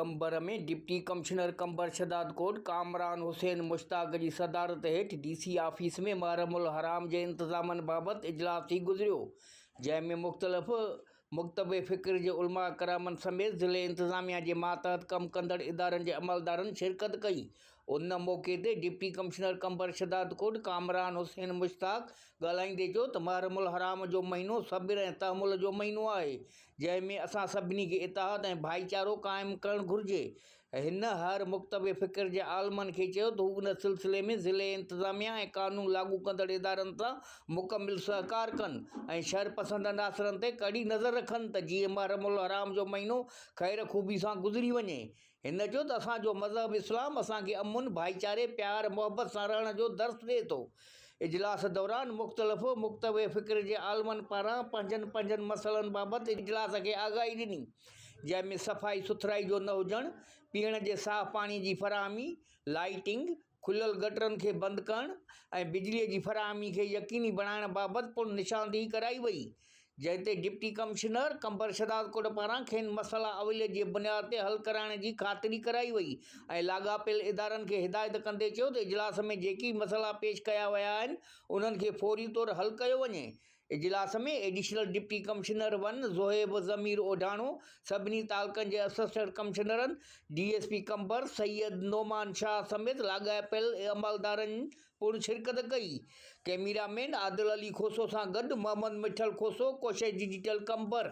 Qambar ۾ deputy commissioner Qambar Shahdadkot Kamran Hussain Mushtaq جي صدارت ھيٺ ڊي سي آفيس ۾ محرم الحرام جي انتظامن بابت اجلاس ٿي گذريو جنهن ۾ مختلف مڪتب فڪر جي علماء ڪرامن سميت ضلعي انتظاميا جي ماتحت ڪم ڪندڙ ادارن جي عملدارن شرڪت ڪئي ان موقعي تي deputy commissioner Qambar Shahdadkot Kamran Hussain Mushtaq ڳالھائيندي چيو ته محرم الحرام جو مھينو صبر ۽ تحمل جو مھينو آھي جنهن ۾ اسان سڀني کي اتحاد ۽ ڀائيچارو قائم ڪرڻ گهرجي. هن هر مڪتب فڪر جي عالمن کي چيو ته هو ان سلسلي ۾ ضلعي انتظاميا ۽ قانون لاڳو ڪندڙ ادارن سان مڪمل سهڪار ڪن ۽ شر پسند عناصرن تي ڪڙي نظر رکن ته جيئن محرم الحرام جو مهينو خير خوبي سان گذري وڃي هن چيو ته اسان جو مذهب اسلام اسان کي امن، ڀائيچاري، پيار، محبت سان رهڻ جو درس ڏئي ٿو. اجلاس دوران مختلف متنوع فڪر جي عالمن پاران پنهنجن پنهنجن مسئلن بابت اجلاس کي آگاهي ڏني جنهن ۾ صفائي سٿرائي جو نه هجڻ، پيئڻ جي صاف پاڻي جي فراهمي، لائيٽنگ، کليل گٽرن کي بند ڪرڻ ۽ بجلي جي فراهمي کي يقيني بڻائڻ بابت پڻ نشاندهي ڪرائي وئي، جنهن تي ڊپٽي ڪمشنر قمبر شهدادڪوٽ پاران کين مسئلا اوليت جي بنياد تي حل ڪرائڻ جي خاطري ڪرائي وئي ۽ لاڳاپيل ادارن کي هدايت ڪندي چيو ته اجلاس ۾ جيڪي به مسئلا پيش ڪيا ويا آهن انهن کي فوري طور حل ڪيو وڃي اجلاس ۾ additional deputy commissioner one Zohaib Zameer Odhano, سڀني تعلقن جي اسسٽنٽ ڪمشنرن، D S P Qambar Syed نعمان شاهه سميت لاڳاپيل عملدارن پڻ شرڪت ڪئي. ڪئميرا مين عادل علي کوسو سان گڏ محمد مٺل کوسو، ڪوشش ڊجيٽل قمبر.